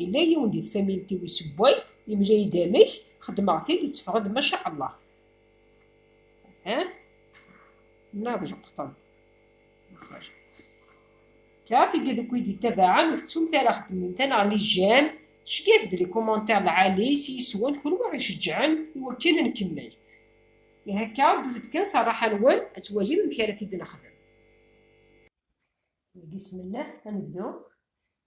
Yella yiwen di tfamilt-iw isewway, yemla-yi-d amek, xedmeɣ-t-id, itteffeɣ-d maca Allah. Atan, nnaɣ d lqeṭṭen. Car tigi d ukud yettabaɛen ur tettumt ara xeddmemt aneɣ li j'aime, cegget-d li commentaires lɛali s yiswen kunwi aɣ-iceǧǧɛen i wakken a nkemmel. Ihi akka, ddut-d kan s rraḥa-nwen ad twalim amek ara t-id-nexdem. Deg isem n Llah, a nebdu.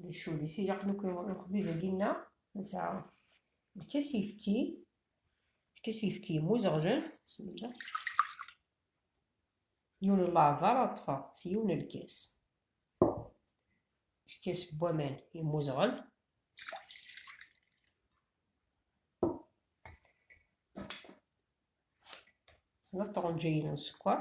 d cudis ilaqen akk lexbiz agi nneɣ nesɛa lkas yefki lkas yefki muzeɣlen bismillah yiwen n leɛbar ad ṭṭfeɣ s yiwen n lkas lkas n waman yemmuzeɣel snat tɣenǧayin n sskeṛ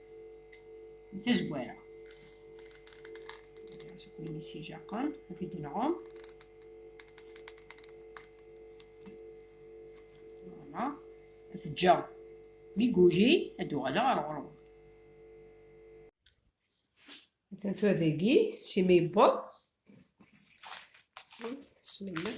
n tazwara win yessijaqen ad t-id-nɛum voilà ad t-ǧǧeɣ mi guji ad d-uɣaleɣ ar ɣur-wen atan tura dagi si ma yewweḍ bismillah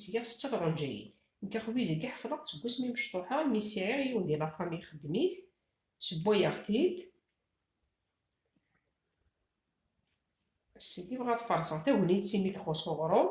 Zgiɣ setteɣ iɣenǧayen. Nekk axbiz-agi ḥefḍeɣ-t seg wasmi mecṭuḥeɣ imi siɛiɣ yiwen di lafami ixeddem-it, sewwayeɣ-t-id, seg-i bɣa ad farṣeɣ tagnit imi k-xuṣṣ uɣrum.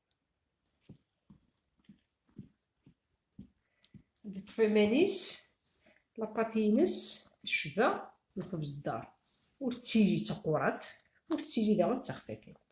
ddetf iman-is lapat-ines tecba lxebz ddar ur tettili d taqqurat ur tettili daɣen d taxfakant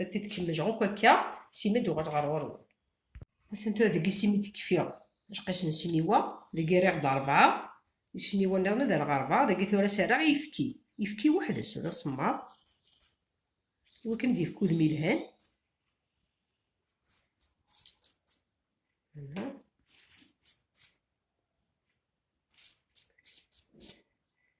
Ad t-id-kemmleɣ akk akka, sima ad uɣaleɣ ɣer ɣur-wen. Atan tura deg isimi d-kfiɣ lqis n sniwa, dagi rriɣ-d rebɛa, isniwa nniḍen ad rreɣ rebɛa, dagi tura serraɣ i yefki. Yefki weḥd-s d asemmaḍ, i wakken ad d-yefk udem yelhan.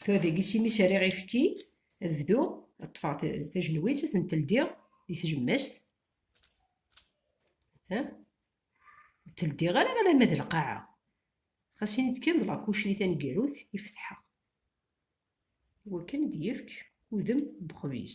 Tura dagi s imi s-rriɣ ifki, ad bduɣ, ad ṭṭfeɣ tajenwitt, ad tent-ldiɣ di tjemmast. Ha? Ur tt-ldiɣ ara alamma d lqaɛa. Xas ini-d kan d lakucri taneggarut i fetḥeɣ. Iwakken ad d-yefk udem n wexbiz.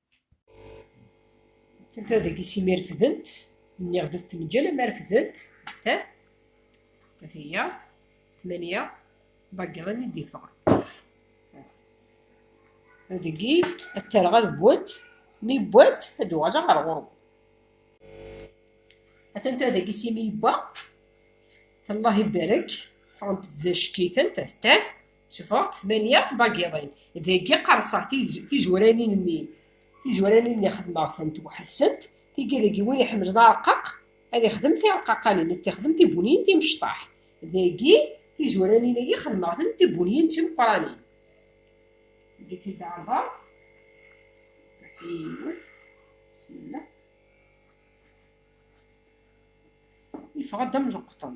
Tenta dagi si mi refdent, nniɣ-d ad t-neǧǧel ama refdent, ta, ta tiyya, tmaniya, bagran i d-iffɣen. Dagi, ad tarɣa ad wwent, mi wwent, ad d-uɣaleɣ ɣer ɣur-wen. Atenta dagi si mi yewwa, Allah ibarek, ffɣent d ackitent, ta, Tteffɣeɣ tmanya tbagiḍin, dagi qerseɣ tizuranin-nni. Tizuranin-nni xedmeɣ-tent weḥd-sent, tigi dagi win iḥemlen areqqaq ad ixdem tireqqaqanin, nekk tixdem tibuniyin timecṭaḥ. Dagi tizuranin-agi xedmeɣ-tent tibuniyin d timeqqranin. Dagi-t-id ɛerḍeɣ. Bismillah. Yeffeɣ-d am leqṭen.